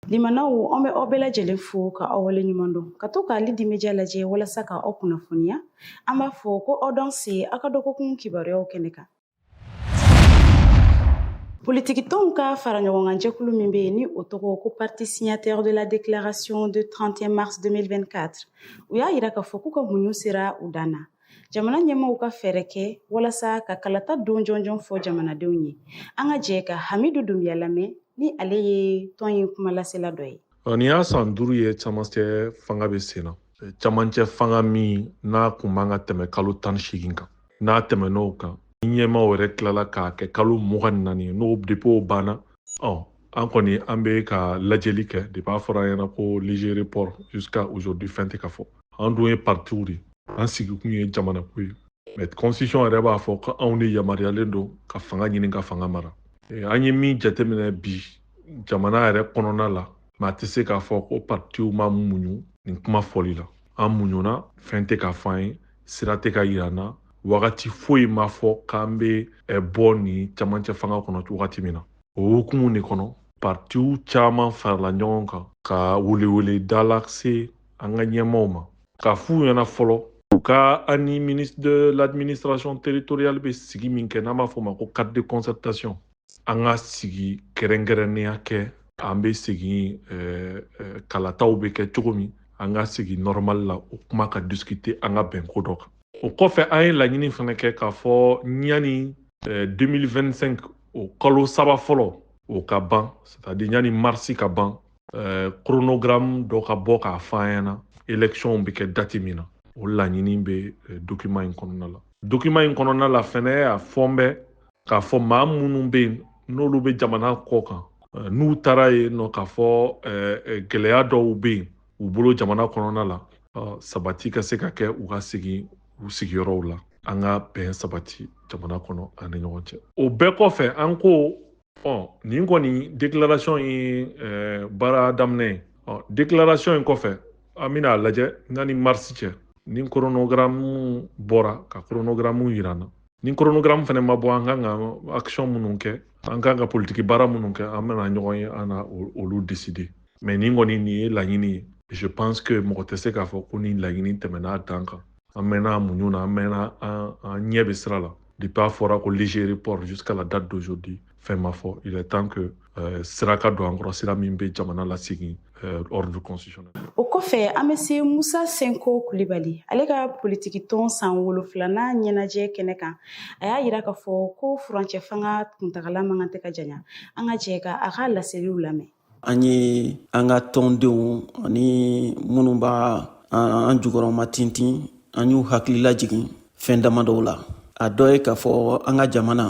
Limanaw an bɛ aw bɛɛ lajɛlen fo ka aw wale ɲuman dɔn ka to ka Ali Dimidiya lajɛ walasa ka aw kunnafoniya an b'a fɔ ko aw danse aw ka dɔgɔkun kibaruyaw kɛnɛ kan Politikitɔnw ka faraɲɔgɔnkanjɛkulu min bɛ yen ni o tɔgɔ ko parti signataire de la déclaration de 31 mars 2024 u y'a yira k'a fɔ k'u ka muɲu sera u dan na jamana ɲɛmɔgɔw ka fɛɛrɛ kɛ walasa ka kalata don jɔnjɔn fɔ jamanadenw ye an ka jɛ ka hamidu dunbiya lamɛn ni ale ye tɔn in kumalasela dɔ ye Nin y'a san duuru ye camancɛ fanga bɛ sen na camancɛ fanga min n'a kun man ka tɛmɛ kalo tan ni seegin kan n'a tɛmɛn'o kan ni ɲɛmaaw yɛrɛ tilala k'a kɛ kalo mugan ni naani n'o depuis o banna ɔ an kɔni an bɛ ka lajɛli kɛ depuis a fɔra an ɲɛna ko léger report jusqu'à aujourd'hui fɛn tɛ ka fɔ an dun ye partiw de an sigikun ye jamanako ye mais constitution yɛrɛ b'a fɔ ko anw de yamaruyalen don ka fanga ɲini ka fanga mara an ye min jateminɛ bi jamana yɛrɛ kɔnɔna la maa tɛ se k'a fɔ ko partiw ma muɲu nin kuma fɔli la an muɲuna fɛn tɛ ka fɔ an ye sira tɛ ka yira an na wagati foyi ma fɔ k'an bɛ bɔ nin camancɛ fanga kɔnɔ wagati min na o hukumu de kɔnɔ partiw caman farala ɲɔgɔn kan ka weleweleda lase an ka ɲɛmaaw ma k'a f'u ɲɛna fɔlɔ u ka an ni ministre de l'administration territoriale bɛ sigi min kɛ n'an b'a fɔ o ma ko cadre de concertation an ka sigi kɛrɛnkɛrɛnnenya kɛ an bɛ segin eh, eh, kalataw bɛ kɛ cogo min an ka segin normal la o kuma ka discuter an ka bɛn ko dɔ kan o kɔfɛ an ye laɲini fana kɛ k'a fɔ ɲani 2025 eh, o kalo saba fɔlɔ o ka ban c'est-à-dire ɲani marisi ka ban koronogramu dɔ ka bɔ k'a fɔ an ɲɛna elɛkisiyɔnw bɛ kɛ dati min na o laɲini bɛ dokiman in kɔnɔna la dokiman in kɔnɔna la fɛnɛ a fɔlen bɛ k'a fɔ maa minnu bɛ yen n'olu bɛ jamana kɔ kan eh, n'u taara yen nɔ k'a fɔ eh, eh, gɛlɛya dɔw bɛ yen u bolo jamana kɔnɔna la sabati ka se ka kɛ u ka segin u sigiyɔrɔw la an ka bɛn sabati jamana kɔnɔ an ni ɲɔgɔn cɛ o bɛɛ kɔfɛ an ko ɔ nin kɔni déclaration ye baara daminɛ ye ɔ déclaration in kɔfɛ an bɛna a lajɛ ɲani marisi cɛ ni koronogramu bɔra ka koronogramu yira an na ni koronogramu fana ma bɔ an kan ka action minnu kɛ an kan ka politiki baara minnu kɛ an bɛna ɲɔgɔn ye an na olu décider mais nin kɔni nin ye laɲini ye je pense que mɔgɔ tɛ se k'a fɔ ko nin laɲini tɛmɛna a dan kan an mɛnna muɲu na an mɛnna an ɲɛ bɛ sira la depuis a fɔra ko léger report jusqu'à la date d'aujourd'hui fɛn ma fɔ il est temps que euh, sira ka don an kɔrɔ sira min bɛ jamana lasegin euh, ordre constitutionnel o kɔfɛ an bɛ se musa senko kulibali ale ka politiki tɔn san wolonfilanan ɲɛnajɛ kɛnɛ kan a y'a yira k'a fɔ ko furancɛ fanga kuntagala man kan tɛ ka janya an ka jɛ ka a ka laseliw lamɛn an ye an ka tɔndenw ani minnu b'an jukɔrɔma tintin an y'u hakili lajigin fɛn dama dɔw la a dɔ ye k'a fɔ an ka jamana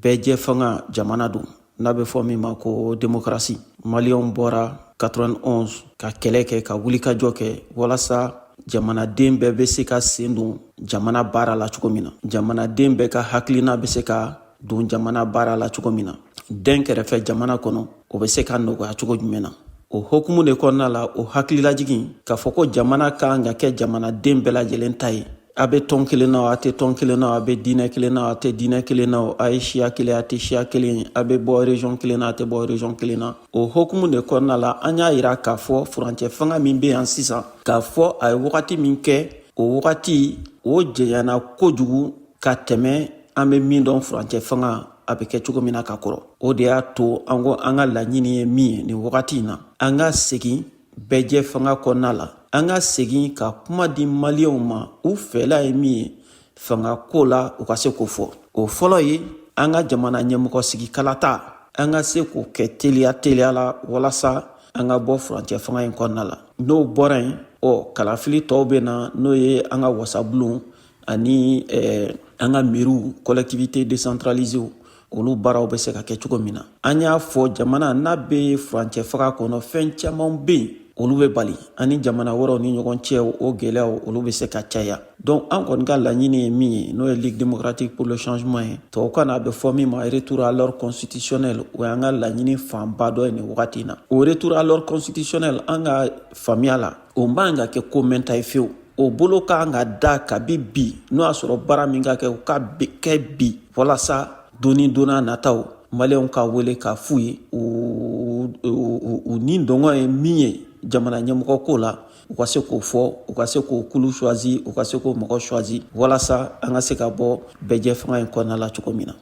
bɛɛjɛ fanga jamana don n'a bɛ fɔ min ma ko demokarasi maliyɛnw bɔra 91 ka kɛlɛ kɛ ka wulikajɔ kɛ walasa jamanaden bɛɛ bɛ se ka sen don jamana baara la cogo min na jamanaden bɛɛ ka hakilina bɛ se ka don jamana baara la cogo min na dɛnkɛrɛfɛ jamana kɔnɔ o bɛ se ka nɔgɔya cogo jumɛn na o hokumu de kɔnɔna la o hakililajigin k'a fɔ ko jamana ka kan ka kɛ jamanaden bɛɛ lajɛlen ta ye a bɛ tɔn kelen na a tɛ tɔn kelen na a bɛ diinɛ kelen na a tɛ diinɛ kelen na a ye siya kelen ye a tɛ siya kelen ye a bɛ bɔ région kelen na a tɛ bɔ région kelen na o hokumu de kɔnɔna la an y'a yira k'a fɔ furancɛ fanga min bɛ yan sisan k'a fɔ a ye wagati min kɛ o wagati o janyana kojugu ka tɛmɛ an bɛ min dɔn furancɛ fanga a bɛ kɛ cogo min na ka kɔrɔ o de y'a to an ko an ka laɲini ye min ye nin wagati in na an ka segin bɛɛjɛ fanga kɔnɔna la an ka segin ka kuma di maliyɛnw ma u fɛla ye min ye fanga ko la u ka se k'o fɔ o fɔlɔ ye an ka jamana ɲɛmɔgɔ sigi kalata an ka se k'o kɛ teliya teliya la walasa an ka bɔ furancɛ fanga in kɔnɔna la n'o bɔra yen ɔ kalafili tɔw bɛ na n'o ye an ka wasabulon ani eh, an ka mɛriw collectivités décentralisées olu baaraw bɛ se ka kɛ cogo min na an y'a fɔ jamana n'a bɛ furancɛ fanga kɔnɔ fɛn caman bɛ yen olu bɛ bali ani jamana wɛrɛw ni ɲɔgɔn cɛ o gɛlɛyaw olu bɛ se ka caya donc an kɔni ka laɲini ye min ye n'o ye ligue démocratique pour le changement ye tubabukan na a bɛ fɔ min ma retour à l'ordre constitutionnel o y'an ka laɲini fanba dɔ ye nin wagati in na o retour à l'ordre constitutionnel an ka faamuya la o man ka kɛ ko mɛnta ye fewu o bolo ka kan ka da kabi bi n'o y'a sɔrɔ baara min ka kɛ o ka kɛ bi walasa doni donna nataw maliyɛnw ka wele k'a f'u ye u nidungɔ ye min ye jamana ɲɛmɔgɔ ko la u ka se k'o fɔ u ka se k'o kulu choisi u ka se k'o mɔgɔ choisi walasa an ka se ka bɔ bɛɛjɛ fanga in kɔnɔna la cogo min na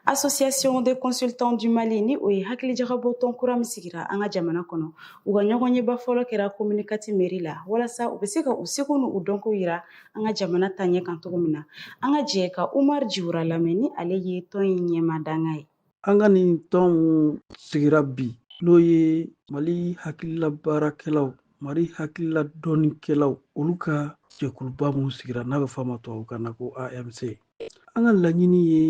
association des consultants du mali ni o ye hakilijagabɔtɔn kura min sigira an ka jamana kɔnɔ U ka ɲɔgɔnyeba fɔlɔ kɛra komini kati mɛri la walasa u bɛ se ka u seko ni u dɔnko yira an ka jamana taɲɛ kan cogo min na an ka jɛ ka umar jiwura lamɛn ni ale ye tɔn in ɲɛmaa dankan ye an ka nin tɔnw sigira bi n'o ye mali hakilila baarakɛlaw mali hakilila dɔnnikɛlaw olu ka jɛkuluba min sigira n'a bɛ fɔ a ma tubabukan na ko amc an ka laɲini ye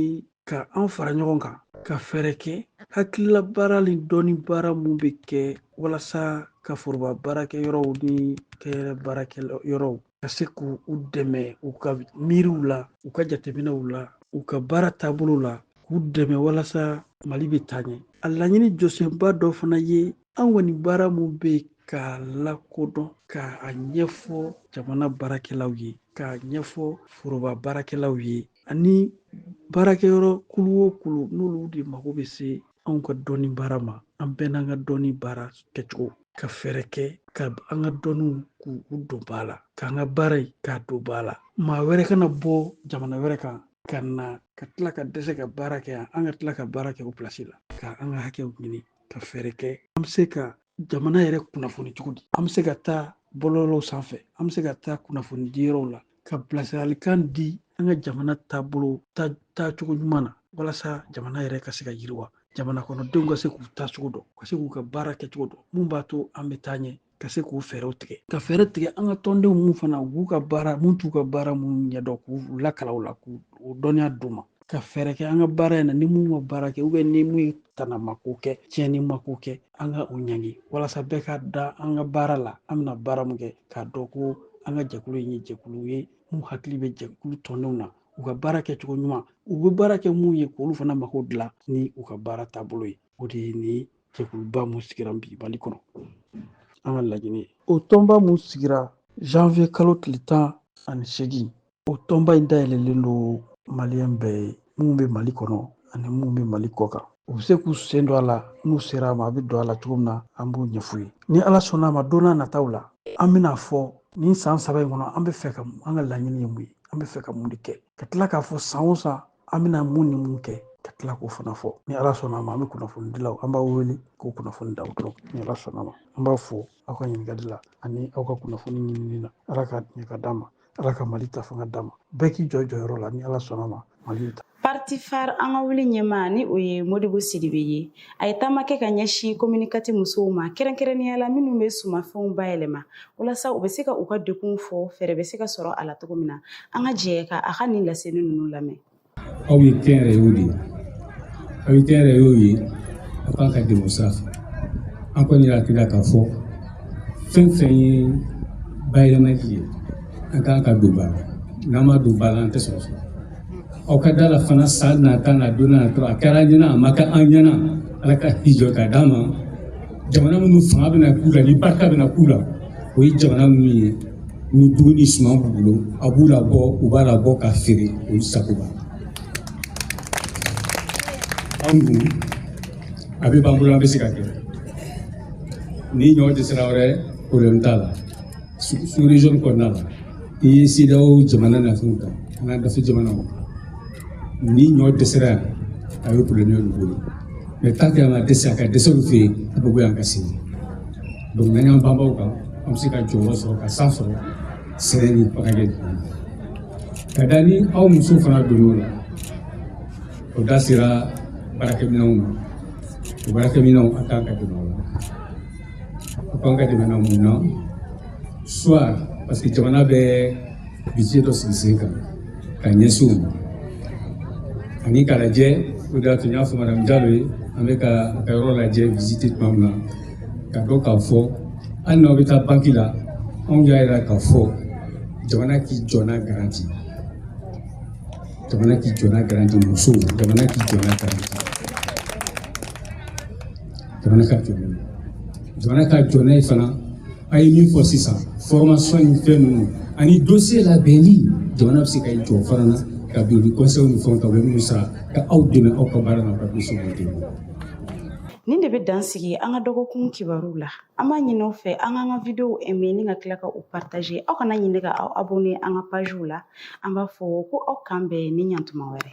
ka an fara ɲɔgɔn kan ka fɛɛrɛ kɛ hakilila baara ni dɔnni baara mun bɛ kɛ walasa ka foroba baarakɛ yɔrɔw ni kɛyɛrɛ baarakɛ yɔrɔw ka se k'u dɛmɛ u ka miiriw la u ka jateminɛw la u ka baara taabolo la k'u dɛmɛ walasa mali bɛ taa ɲɛ a laɲini jɔsenba dɔ fana ye an kɔni baara mun bɛ k'a lakodɔn k'a ɲɛfɔ jamana baarakɛlaw ye k'a ɲɛfɔ foroba baarakɛlaw ye ani baarakɛyɔrɔ kulu o kulu n'olu de mago bɛ se anw ka dɔnni baara ma an bɛɛ n'an ka dɔnni baara kɛcogo ka fɛɛrɛ kɛ ka an ka dɔnniw k'u don ba la k'an ka baara in k'a don ba la maa wɛrɛ kana bɔ jamana wɛrɛ kan ka na ka tila ka dɛsɛ ka baara kɛ yan an ka tila ka baara kɛ o pilasi la ka an ka hakɛw ɲini ka fɛɛrɛ kɛ an bɛ se ka jamana yɛrɛ kunnafoni cogo di an bɛ se ka taa bɔlɔlɔw sanfɛ an bɛ se ka taa kunnafoni di yɔrɔw la ka bilasiralikan di an ka jamana taabolo taacogo ɲuman na walasa jamana yɛrɛ ka se ka yiriwa jamana kɔnɔdenw ka se k'u taacogo dɔn ka se k'u ka baara kɛcogo dɔn mun b'a to an bɛ taa ɲɛ ka se k'u fɛɛrɛw tigɛ ka fɛɛrɛ tigɛ an ka tɔndenw mun fana u b'u ka baara mun t'u ka baara mun ɲɛdɔn k'u lakalan o la k'u dɔnniya d'u ma ka fɛɛrɛ kɛ an ka baara in na ni mun ma baara kɛ ou bien ni mun ye tanama ko kɛ tiɲɛnima ko kɛ an ka o ɲangi walasa bɛɛ ka da an ka baara la an bɛna baara mun kɛ k'a dɔn ko an ka jɛkulu in ye jɛkulu ye mun hakili bɛ jɛkulu tɔndenw na u ka baara kɛcogo ɲuman u bɛ baara kɛ mun ye k'olu fana mako dilan ni u ka baara taabolo ye o de ye nin jɛkuluba mun sigira bi mali kɔnɔ an ka laɲini ye o tɔnba mun sigira janvier kalo tile tan ani segin o tɔnba in dayɛlɛlen don maliyɛn bɛɛ ye min bɛ mali kɔnɔ ani min bɛ mali kɔ kan u bɛ se k'u sen don a la n'u sera a ma a bɛ don a la cogo min na an b'o ɲɛf'u ye ni ala sɔnna a ma don na nataw la an bɛna a fɔ nin san saba in kɔnɔ an bɛ fɛ ka an ka laɲini ye mun ye an bɛ fɛ ka mun de kɛ ka tila k'a fɔ san o san an bɛna mun ni mun kɛ ka tila k'o fana fɔ ni ala sɔnna a ma an bɛ kunnafoni dilaw an b'aw wele k'o kunnafoni d'aw dɔrɔn ni ala sɔnna a ma an b'aw fo aw ka ɲininkali la ani aw ka kunnafoni ɲinini na ala ka ɲɛ ka d'an ma ala ka mali ta fanga d'an ma bɛɛ k'i jɔ jɔyɔrɔ la ni ala sɔnna a ma mali ta parti fare an ka wuli ɲɛmaa ni o ye modibo sidibe ye A ye taama kɛ ka ɲɛsin commune quatre musow ma kɛrɛnkɛrɛnnenya la minnu bɛ sumafɛnw bayɛlɛma walasa u bɛ se ka u ka degunw fɔ fɛɛrɛ bɛ se ka sɔrɔ a la cogo min na an ka jɛ ka a ka nin laseli ninnu lamɛn aw ye kɛnyɛrɛyew de ye aw ye kɛnyɛrɛyew ye aw kan ka dɛmɛ o sira fɛ an kɔni y'a jira k'a fɔ fɛn fɛn ye bayɛlɛmali ye an kan k'a don ba la n'an m'a don ba la an tɛ sɔrɔ sɔrɔ aw ka da a la fana san nata na don nata a kɛra an ɲɛna a ma kɛ an ɲɛna ala ka hijɔ ka d'an ma jamana minnu fanga bɛna k'u la ni barika bɛna k'u la o ye jamana minnu ye ni dugu ni suman b'u bolo a b'u labɔ u b'a labɔ ka feere olu sago b'a la an dun a bɛɛ b'an bolo an bɛ se ka kɛ ni ɲɔ dɛsɛra wɛrɛ porobilɛmu t'a la sous région kɔnɔna na i ye CEDEAO jamana na fɛnw ta an ka dafɛ jamanaw ni ɲɔ dɛsɛra yan a ye porobilɛmu y'olu bolo mais tant que an ka dɛsɛ a ka dɛsɛ olu fɛ yen a bɛ bɔ yan ka se yen donc n'an y'an banban a kan an bɛ se ka jɔyɔrɔ sɔrɔ ka san sɔrɔ sɛnɛ ni bagangɛn ka da ni aw musow fana donn'o la o da sera baarakɛminɛnw ma o baarakɛminɛnw an kan ka dɛmɛ o la A kan ka dɛmɛ mun na soit parce que jamana bɛ budget dɔ sigi sen kan ka ɲɛsin o ma ani k'a lajɛ o de y'a to n y'a fɔ madame Jalo ye an bɛ ka a ka yɔrɔ lajɛ visite tuma min na ka dɔn k'a fɔ hali n'aw bɛ taa banki la anw y'a jira k'a fɔ jamana k'i jɔ n'a garanti jamana k'i jɔ n'a garanti musow jamana k'i jɔ n'a garanti. jamana ka jɔ n'a ye jamana ka jɔ n'a ye fana a ye min fɔ sisan fɔrɔmasɔn ni fɛn ninnu ani dossier labɛnni jamana bɛ se ka jɔ fana na cabinet conseil ni fɛnw ta u bɛ minnu sara ka aw dɛmɛ aw ka baara na aw ka dossier b'u dɛmɛ nin de bɛ dan sigi an ka dɔgɔkun kibaruw la an b'a ɲini aw fɛ aw k'an ka videow aimer ni ka tila ka u partage aw kana ɲina ka aw abonne an ka pagew la an b'a fɔ ko aw k'an bɛn nin ɲɔgɔn tuma wɛrɛ